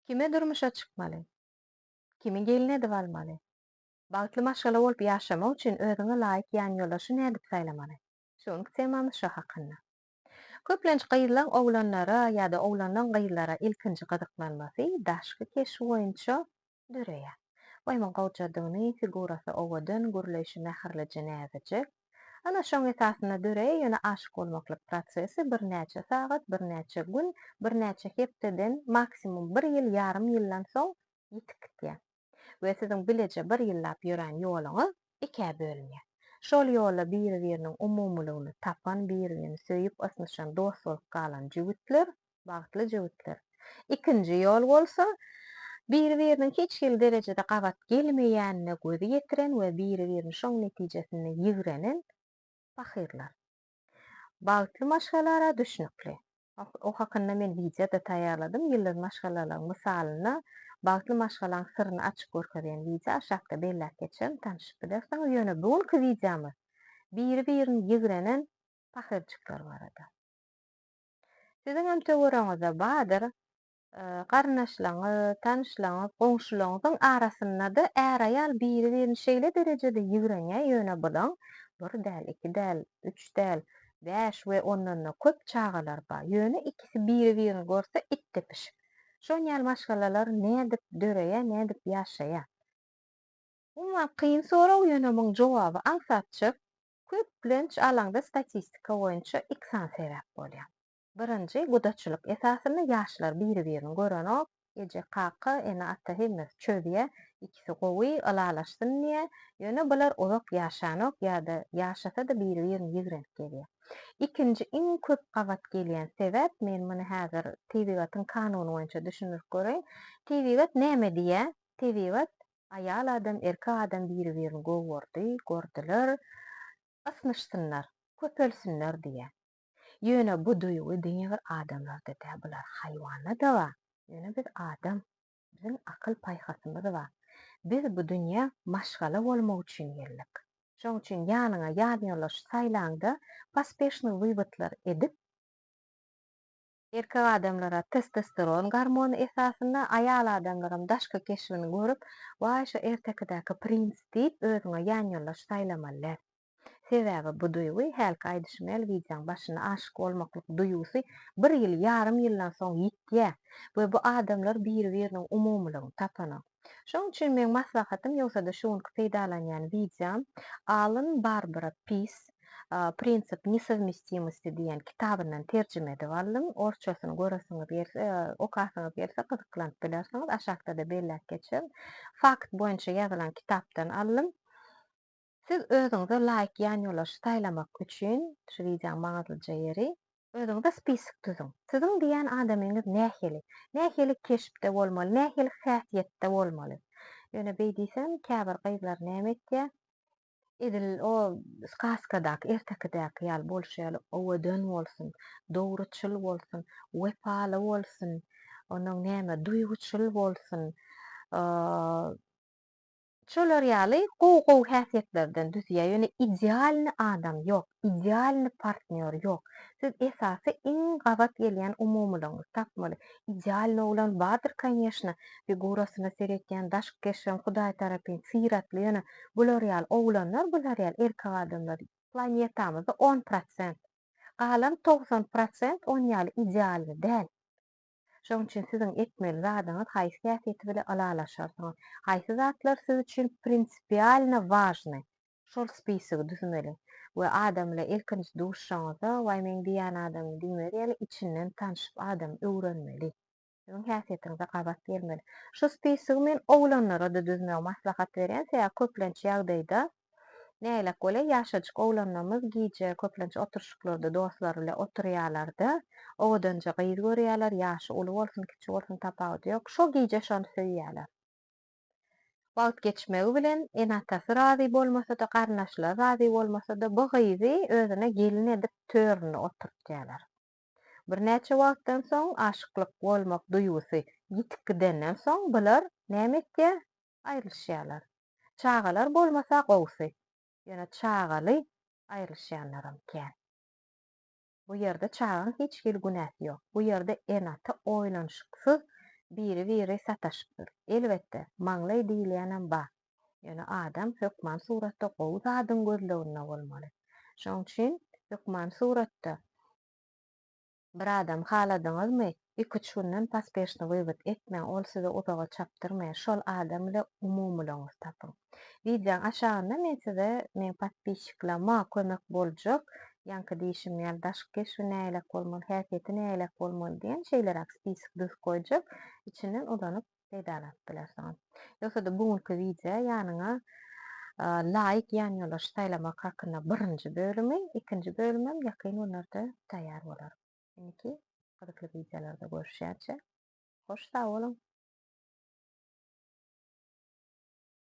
Kime durmuşa çykmaly? Kimi gelin edip almaly? Bagtly maşgala bolup ýaşamak üçin özüňe laýyk ýanýoldaşy nädip saýlamaly? Şu günki temamyz şo hakynda. Köplenç gyzlaň oglanlara ýa-da oglanlaň gyzlara ilkinji gyzyklanmasy daşky keşbi boýunça döreýär. Goýma gowjadygyny, figurasy owadan, gürleýşi mähirlije näzijek. Ana, şoň esasynda döreýär, ýöne aşyk bolmaklyk prosesi birnäçe sagat, birnäçe gün, birnäçe hepdeden, maksimum bir ýyl, ýarym ýyldan soň ýitip gitýär. We siziň bileje bir ýyllap ýörän ýoluňyz ikä bölünýär. Şol ýolda biri-biriniň umumylygyny tapan, biri-birini söýüp, ysnyşan, dost bolup galan jübütler Bagtly jübütler. Ikinji ýol bolsa, biri-biriniň hiç hili derejede gabat gelmeýänine gözi ýetiren we biri-birini şoň netijesinde ýigrenen pahyrlar. Bagtly maşgalara düşnükli. O hakynda men wideo-da taýýarladym. Ýyldyz maşgalalaryň mysalynda bagtly maşgalaň syryny açyp görkezýän wideo aşakda belläp geçerin, tanşyp bilersiňiz. Ýöne bu günki wideomyz biri-birini ýigrenen pahyrjyklar barada. Siziňem töweregiňizde bardyr, garyndaşlaryňyz, tanyşlaryňyz, goňşularyňyzyň arasynda-da är-aýal biri-birini şeýle derejede ýigrenýär, ýöne buzaň bir däl, iki däl, üç däl, bäş we ondan-da köp çagalar bar. Ýöne ikisi biri-birini görse itdepişik. Şon ýaly maşgalalar nädip döreýär, nädip ýaşaýar? Umuman kyn sorag, ýöne muň jogaby aňsatjak. Köplenç alaňda statistika boýunça iki sany sebäp bolýar. Birinji, gudaçylyk esasynda ýaşlar biri-birini görenok, eje-kaka, ene-ata hemmesi çözýär, ikisi gowy, ylalaşsyn diýýär, ýöne bular uzak ýaşanok ýa-da ýaşasa-da biri-birini ýigrenip gezýär. Ikinji iň köp gabat gelýän sebäp, men muny häzir tebigatyň kanuny boýunça düşündirip göreýin, tebigat näme diýýär? Tebigat Aýal adam, erkek adam biri-birini gowurdy, gordylar, ysnyşsynlar, köpelsinler diýýär. Ýöne bu duýgy diňe bir adamlarda däl, bular haýwanda-da bar. Ýöne biz adam, biziň akyl-paýhasymyz bar. Biz bu dünýä maşgala bolmak üçin geldik. Şoň üçin ýanyňa ýanýoldaş saýlaňda, pospeshnyý wywodlar edip, Erkek adamlara testosteron gormony esasynda, aýal adamlaram daşky keşbini görüp, waý şu ertekidäki princ diýip özüňe ýanýoldaş saýlamaly däl. Sebäbi bu duýgy, hälki aýdyşym ýaly wideoň başynda aşyk bolmaklyk duýgusy bir ýyl, ýarym ýyldan soň ýitýär we bu adamlar biri-biriniň umumylygyny tapana. Şoň üçin meň maslahatym ýogsa-da şu günki peýdalanýan wideom alym Barbara Piss Prinsipi nesowmestimosty diýen kitabyndan terjime edip aldym. Orsçasyny göresiňiz gelse, okasyňyz gelse gyzyklanyp bilersiňiz. Aşakda-da belläp geçerin. Fakt boýunça ýazylan kitapdan aldym. Siz özüňize laýyk ýanýollaşy saýlamak üçin, şu wideoň maňyzlyja ýeri, özüňize spisok düzüň. Siziň diýýän adamyňyz nähili? Nähili keşpde bolmaly? Nähili häsiýetde bolmaly? Ýöne beý diýsem, käbir gyzlar näme etýär? Edil o skaskadaky, ertekidäki ýaly bolşy ýaly, owadan bolsun, dogruçyl bolsun, wepaly bolsun, onnoň näme, duýguçyl bolsun, Şolar ýaly gowy gowy häsiýetlerden düzýär ýöne idealny adam ýok idealny partnýor ýok siz esasy iň gabat gelýän umumylygyňyzy tapmaly idealny oglan bardyr konýeşna figurasyna seretýän daşky keşbem hudaý tarapyn syratly ýöne bular ýaly oglanlar bular ýaly erkek adamlar planetamyzda on prosent galan togsan prosent on ýaly idealny däl. Şonuň üçin siziň etmeli zadyňyz haýsy häsiýeti bilen ylalaşarsyňyz, haýsy zatlar siz üçin prinsipialno wažnyý, şol spisigi düzmeli we adam bilen ilkinji duşuşaňyzda waý meň diýýän adamym diýmeli, ýaly içinden tanşyp adamy öwrenmeli. Siziň häsiýetiňize gabat gelmeli. Şu spisigi men oglanlara-da düzmegi maslahat berýän, sebäbi köplenç ýagdaýda Nälelik bolýa, ýaşajyk oglanlarymyz gije köplenç oturyşyklarda dostlary bile oturýalar-da, owadanja gyz görýäler, ýaşy uly bolsun, kiçi bolsun tapawudy ýok, şo gije şony söýýäler. Wagt geçmegi bilen, ene-atasy razy bolmasa-da, garyndaşlary razy bolmasa-da, bu gyzy özüne gelin edip töründe oturtýarlar. Birnäçe wagtdan soň, aşyklyk bolmak duýgusy ýitip gidenden soň, bular näme etýär? aýrylyşýarlar. Çagalar bolmasa gowusy, ýöne çagaly aýrylyşýanlaram kän. Bu ýerde çagaň hiç hili günäsi ýok. Bu ýerde ene-ata oýlanyşyksyz biri-biri sataşypdyr. Elbetde, maňlaý diýilýänem bar. Ýöne adam hökman suratda gowy zadyň gözleginde bolmaly. Şonuň üçin hökman suratda. Bir adam haladyňyzmy, iki-üç günden paspešni wywod etmäň, ol sizi uzaga çapdyrmaýar, şol adam ile umumylygyňyzy tapyň. Wideoň aşagynda men size meň podpisçiklama kömek boljak, ýaňky diýşim ýaly daşky keşbi näleýlek bolmaly, häsiýeti näleýlek bolmaly diýen şeýleräk spisik düzüp goýjak, içinden uzanyp peýdalanyp bilersiňiz. Ýogsa-da bu günki wideo ýanyňa laýyk ýanýollaş saýlamak hakynda birinji bölümi, ikinji bölümem ýakyn günlerde taýýar bolar. Indiki gyzykly wideolarda görüşýänçä hoş sag boluň!